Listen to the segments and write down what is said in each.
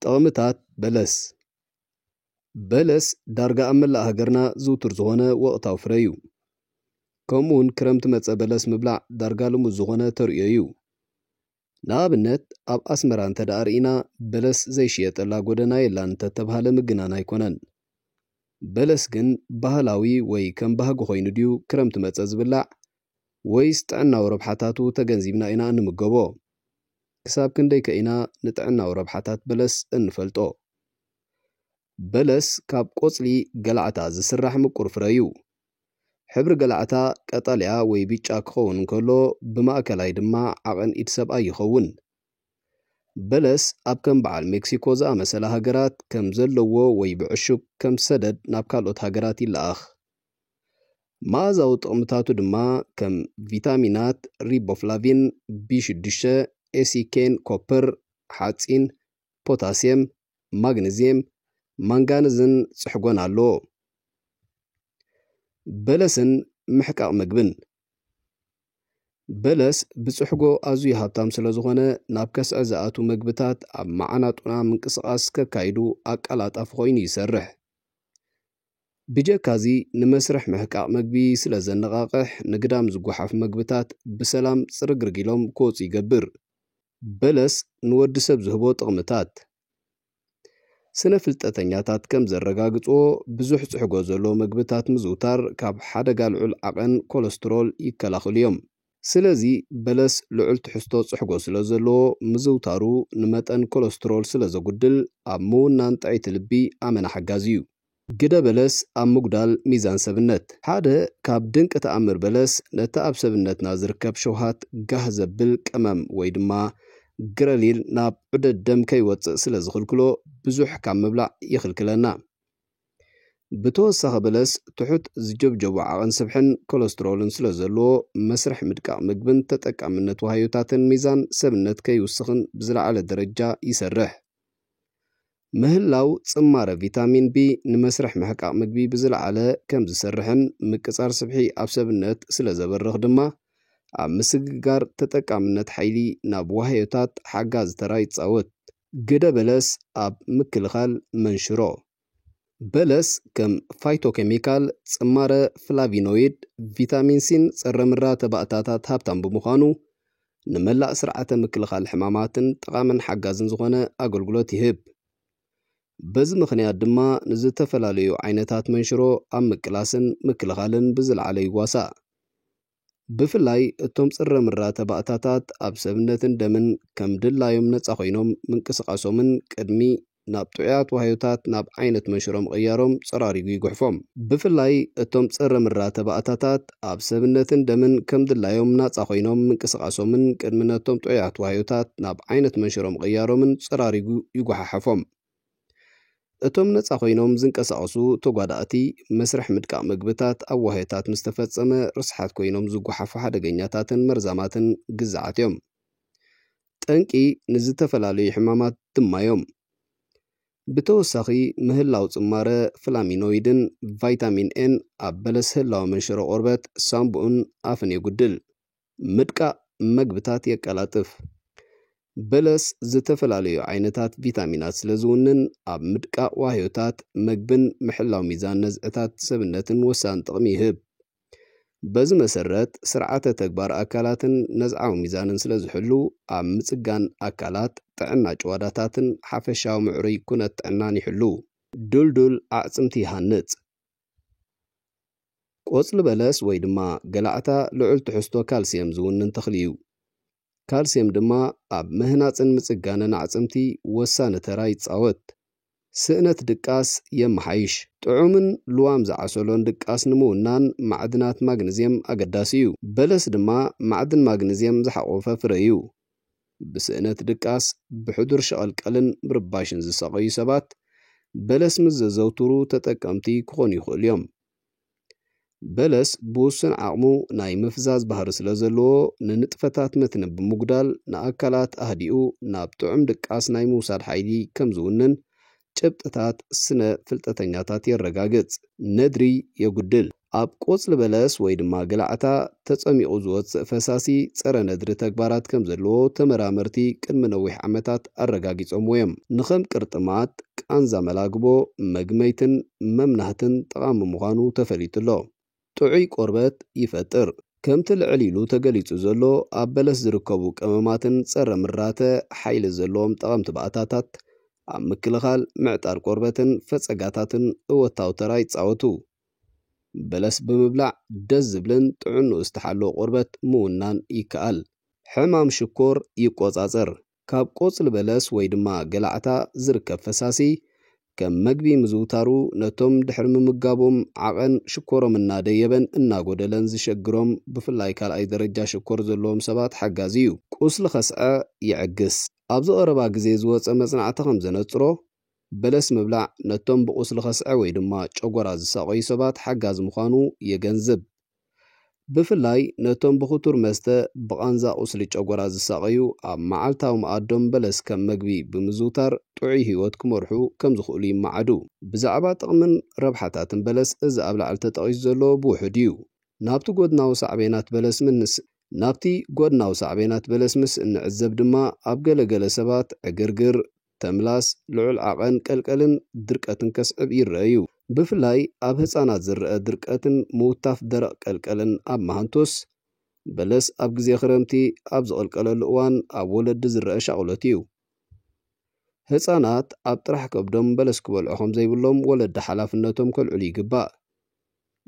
ጥቕምታት በለስ በለስ ዳርጋ ኣብ መላእ ሃገርና ዝውቱር ዝኾነ ወቕታዊ ፍረ እዩ። ከምኡ ውን ክረምቲ መጸ በለስ ምብላዕ ዳርጋ ልሙድ ዝኾነ ተርእዮ እዩ። ንኣብነት ኣብ ኣስመራ እንተድኣ ርኢና በለስ ዘይሽየጠላ ጎደና የላን እንተተብሃለ ምግናን ኣይኮነን። በለስ ግን ባህላዊ ወይ ከም ባህጊ ኮይኑ ድዩ ክረምቲ መጸ ዝብላዕ ወይስ ጥዕናዊ ረብሓታቱ ተገንዚብና ኢና እንምገቦ? ክሳብ ክንደይከ ኢና ንጥዕናዊ ረብሓታት በለስ እንፈልጦ? በለስ ካብ ቆጽሊ ገላዕታ ዝስራሕ ምቁር ፍረ እዩ። ሕብሪ ገላዕታ ቀጠልያ ወይ ብጫ ክኸውን እንከሎ፣ ብማእከላይ ድማ ዓቐን ኢድ ሰብኣይ ይኸውን። በለስ ኣብ ከም በዓል ሜክሲኮ ዝኣመሰላ ሃገራት ከም ዘለዎ ወይ ብዕሹግ ከም ሰደድ ናብ ካልኦት ሃገራት ይለኣኽ። መኣዛዊ ጥቕምታቱ ድማ ከም ቪታሚናት፣ ሪቦፍላቪን፣ ቢ ሽዱሽተ፣ ኤሲኬን፣ ኮፐር፣ ሓጺን፣ ፖታስየም፣ ማግነዝየም፣ ማንጋነዝን ጽሕጎን ኣለዎ። በለስን ምሕቃቕ ምግብን በለስ ብጽሕጎ ኣዝዩ ሃብታም ስለ ዝኾነ ናብ ከስዐ ዝኣትዉ መግብታት ኣብ መዓናጡና ምንቅስቓስ ከካይዱ ኣቀላጣፊ ኮይኑ ይሰርሕ። ብጀካዚ ንመስርሕ ምሕቃቕ መግቢ ስለ ዘነቓቕሕ ንግዳም ዝጎሓፍ መግብታት ብሰላም ጽርግርግ ኢሎም ክወጹ ይገብር። በለስ ንወዲ ሰብ ዝህቦ ጥቕምታት። ስነ ፍልጠተኛታት ከም ዘረጋግጽዎ ብዙሕ ጽሕጎ ዘለዎ መግብታት ምዝውታር ካብ ሓደጋ ልዑል ዓቐን ኮለስትሮል ይከላኽሉ'ዮም። ስለዚ በለስ ልዑል ትሕዝቶ ጽሕጎ ስለ ዘለዎ ምዝውታሩ ንመጠን ኮለስትሮል ስለ ዘጉድል ኣብ ምውናን ጥዕይቲ ልቢ ኣመና ሓጋዚ እዩ። ግደ በለስ ኣብ ምጉዳል ሚዛን ሰብነት። ሓደ ካብ ድንቂ ተኣምር በለስ ነቲ ኣብ ሰብነትና ዝርከብ ሸውሃት ጋህ ዘብል ቀመም ወይ ድማ ግረሊል ናብ ዑደት ደም ከይወጽእ ስለ ዝኽልክሎ ብዙሕ ካብ ምብላዕ ይኽልክለና። ብተወሳኺ በለስ ትሑት ዝጀብጀቡ ዓቐን ስብሕን ኮለስትሮልን ስለዘለዎ መስርሕ ምድቃቕ ምግብን ተጠቃምነት ዋህዮታትን ሚዛን ሰብነት ከይውስኽን ብዝለዓለ ደረጃ ይሰርሕ። ምህላው ጽማረ ቪታሚን ቢ ንመስርሕ ምሕቃቕ ምግቢ ብዝለዓለ ከምዝሰርሕን ምቅጻር ስብሒ ኣብ ሰብነት ስለዘበርኽ ድማ ኣብ ምስግጋር ተጠቃምነት ሓይሊ ናብ ዋህዮታት ሓጋዚ ተራ ይጻወት። ግደ በለስ ኣብ ምክልኻል መንሽሮ። በለስ ከም ፋይቶኬሚካል፣ ጽማረ ፍላቪኖይድ፣ ቪታሚን ሲን ጸረ-ምራ ተባእታታት ሃብታም ብምዃኑ፣ ንመላእ ስርዓተ ምክልኻል ሕማማትን ጠቓምን ሓጋዝን ዝኾነ ኣገልግሎት ይህብ። በዚ ምኽንያት ድማ ንዝተፈላለዩ ዓይነታት መንሽሮ ኣብ ምቅላስን ምክልኻልን ብዝለዓለ ይዋሳእ። ብፍላይ እቶም ጽረ-ምራ ተባእታታት ኣብ ሰብነትን ደምን ከም ድላዮም ነጻ ኮይኖም ምንቅስቓሶምን ቅድሚ ናብ ጥዑያት ዋህዮታት ናብ ዓይነት መንሽሮ ምቕያሮም ጸራሪጉ ይጉሕፎም። ብፍላይ እቶም ጽረ-ምራ ተባእታታት ኣብ ሰብነትን ደምን ከም ድላዮም ናጻ ኮይኖም ምንቅስቓሶምን ቅድሚ ነቶም ጥዑያት ዋህዮታት ናብ ዓይነት መንሽሮ ምቕያሮምን ጸራሪጉ ይጉሓሕፎም። እቶም ነጻ ኮይኖም ዝንቀሳቐሱ ተጓዳእቲ፣ መስርሕ ምድቃቕ መግብታት ኣብ ዋህዮታት ምስ ተፈጸመ ርስሓት ኮይኖም ዝጓሓፉ ሓደገኛታትን መርዛማትን ግዛዓት እዮም። ጠንቂ ንዝተፈላለዩ ሕማማት ድማ እዮም። ብተወሳኺ፣ ምህላው ጽማረ ፍላሚኖይድን ቫይታሚን ኤን ኣብ በለስ ህላወ መንሽሮ ቆርበት፣ ሳንቡእን ኣፍን የጉድል። ምድቃቕ መግብታት የቀላጥፍ። በለስ ዝተፈላለዩ ዓይነታት ቪታሚናት ስለ ዝውንን ኣብ ምድቃቕ ዋህዮታት መግብን ምሕላው ሚዛን ነዝዕታት ሰብነትን ወሳኒ ጥቕሚ ይህብ። በዚ መሰረት ስርዓተ ተግባር ኣካላትን ነዝዓዊ ሚዛንን ስለ ዝሕሉ ኣብ ምጽጋን ኣካላት፣ ጥዕና ጭዋዳታትን ሓፈሻዊ ምዕሩይ ኩነት ጥዕናን ይሕሉ። ድልዱል ኣዕጽምቲ ይሃንጽ። ቆጽሊ በለስ ወይ ድማ ገላዕታ ልዑል ትሕዝቶ ካልስየም ዝውንን ተኽሊ እዩ። ካልስየም ድማ ኣብ ምህናጽን ምጽጋንን ኣዕጽምቲ ወሳኒ ተራ ይጻወት። ስእነት ድቃስ የመሓይሽ። ጥዑምን ልዋም ዝዓሰሎን ድቃስ ንምውናን ማዕድናት ማግኒዝየም ኣገዳሲ እዩ። በለስ ድማ ማዕድን ማግኒዝየም ዝሓቖፈ ፍረ እዩ። ብስእነት ድቃስ፣ ብሕዱር ሸቐልቀልን ምርባሽን ዝሳቐዩ ሰባት በለስ ምስ ዘዘውትሩ ተጠቀምቲ ክኾኑ ይኽእሉ እዮም። በለስ ብውሱን ዓቕሙ ናይ ምፍዛዝ ባህሪ ስለዘለዎ ንንጥፈታት መትኒ ብምጉዳል ንኣካላት ኣህዲኡ ናብ ጥዑም ድቃስ ናይ ምውሳድ ሓይሊ ከምዝውንን ጭብጥታት ስነ ፍልጠተኛታት የረጋግጽ። ነድሪ የጉድል። ኣብ ቆጽሊ በለስ ወይ ድማ ገላዕታ ተጸሚቑ ዝወጽእ ፈሳሲ ጸረ ነድሪ ተግባራት ከም ዘለዎ ተመራመርቲ ቅድሚ ነዊሕ ዓመታት ኣረጋጊጾምዎ እዮም። ንከም ቅርጥማት፣ ቃንዛ መላግቦ፣ መግመይትን መምናህትን ጠቓሚ ምዃኑ ተፈሊጡ ኣሎ። ጥዑይ ቆርበት ይፈጥር። ከምቲ ልዕል ኢሉ ተገሊጹ ዘሎ ኣብ በለስ ዝርከቡ ቀመማትን ጸረ ምራተ ሓይሊ ዘለዎም ጠቐምቲ ባእታታት ኣብ ምክልኻል ምዕጣር ቆርበትን ፈጸጋታትን እወታዊ ተራ ይጻወቱ። በለስ ብምብላዕ ደስ ዝብልን ጥዕንኡ ዝተሓለወ ቆርበት ምውናን ይከኣል። ሕማም ሽኮር ይቆጻጸር። ካብ ቆጽሊ በለስ ወይ ድማ ገላዕታ ዝርከብ ፈሳሲ ከም መግቢ ምዝውታሩ ነቶም ድሕሪ ምምጋቦም ዓቐን ሽኮሮም እናደየበን እናጎደለን ዝሸግሮም ብፍላይ ካልኣይ ደረጃ ሽኮር ዘለዎም ሰባት ሓጋዚ እዩ። ቁስሊ ከስዐ ይዕግስ። ኣብዚ ቀረባ ግዜ ዝወጸ መጽናዕቲ ከም ዘነጽሮ በለስ ምብላዕ ነቶም ብቁስሊ ከስዐ ወይ ድማ ጨጎራ ዝሳቐዩ ሰባት ሓጋዚ ምዃኑ የገንዝብ። ብፍላይ ነቶም ብኽቱር መስተ ብቓንዛ ቁስሊ ጨጎራ ዝሳቐዩ ኣብ መዓልታዊ መኣዶም በለስ ከም መግቢ ብምዝውታር ጥዑይ ህይወት ክመርሑ ከም ዝኽእሉ ይመዓዱ። ብዛዕባ ጥቕምን ረብሓታትን በለስ እዚ ኣብ ላዕሊ ተጠቒሱ ዘሎ ብውሑድ እዩ። ናብቲ ጎድናዊ ሳዕቤናት በለስ ምስ ናብቲ ጎድናዊ ሳዕቤናት በለስ ምስ እንዕዘብ ድማ ኣብ ገለ ገለ ሰባት ዕግርግር፣ ተምላስ፣ ልዑል ዓቐን ቀልቀልን ድርቀትን ከስዕብ ይረኣዩ። ብፍላይ ኣብ ህጻናት ዝረኣ ድርቀትን ምውታፍ ደረቕ ቀልቀልን ኣብ መሃንቶስ፣ በለስ ኣብ ግዜ ክረምቲ ኣብ ዝቕልቀለሉ እዋን ኣብ ወለዲ ዝረኣ ሻቕሎት እዩ። ህጻናት ኣብ ጥራሕ ከብዶም በለስ ክበልዑ ከም ዘይብሎም ወለዲ ሓላፍነቶም ከልዕሉ ይግባእ።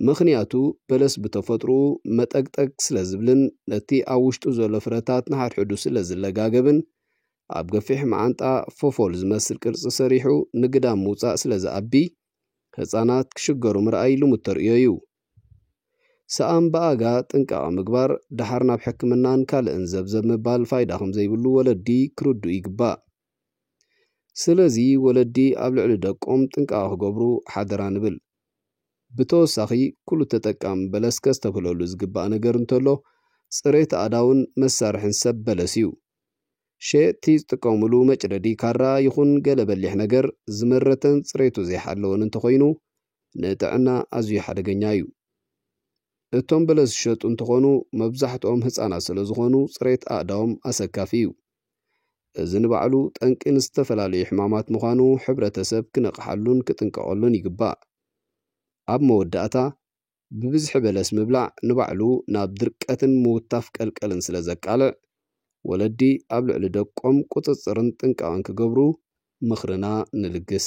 ምኽንያቱ በለስ ብተፈጥርኡ መጠግጠግ ስለ ዝብልን ነቲ ኣብ ውሽጡ ዘሎ ፍረታት ንሓድሕዱ ስለ ዝለጋገብን ኣብ ገፊሕ መዓንጣ ፎፎል ዝመስል ቅርጺ ሰሪሑ ንግዳም ምውጻእ ስለ ዝኣቢ፣ ህጻናት ክሽገሩ ምርኣይ ልሙድ ተርእዮ'ዩ። ሰኣን ብኣጋ ጥንቃቐ ምግባር፣ ደሓር ናብ ሕክምናን ካልእን ዘብዘብ ምባል ፋይዳ ከም ዘይብሉ ወለዲ ክርድኡ ይግባእ። ስለዚ ወለዲ ኣብ ልዕሊ ደቆም ጥንቃቐ ክገብሩ ሓደራ ንብል። ብተወሳኺ ኩሉ ተጠቃሚ በለስ ከስተብህለሉ ዝግባእ ነገር እንተሎ፣ ጽሬት ኣእዳውን መሳርሕን ሰብ በለስ'ዩ። ሸየጥቲ ዝጥቀሙሉ መጭደዲ ካራ ይኹን ገለ በሊሕ ነገር ዝመረተን ጽሬቱ ዘይሓለወን እንተኾይኑ ንጥዕና ኣዝዩ ሓደገኛ እዩ። እቶም በለስ ዝሸጡ እንትኾኑ መብዛሕትኦም ህጻናት ስለዝኾኑ ጽሬት ኣእዳዎም ኣሰካፊ እዩ። እዚ ንባዕሉ ጠንቂ ንዝተፈላለዩ ሕማማት ምዃኑ ሕብረተሰብ ክነቕሓሉን ክጥንቀቐሉን ይግባእ። ኣብ መወዳእታ ብብዝሒ በለስ ምብላዕ ንባዕሉ ናብ ድርቀትን ምውታፍ ቀልቀልን ስለ ዘቃልዕ፣ ወለዲ ኣብ ልዕሊ ደቆም ቁጽጽርን ጥንቃቐን ክገብሩ ምኽርና ንልግስ።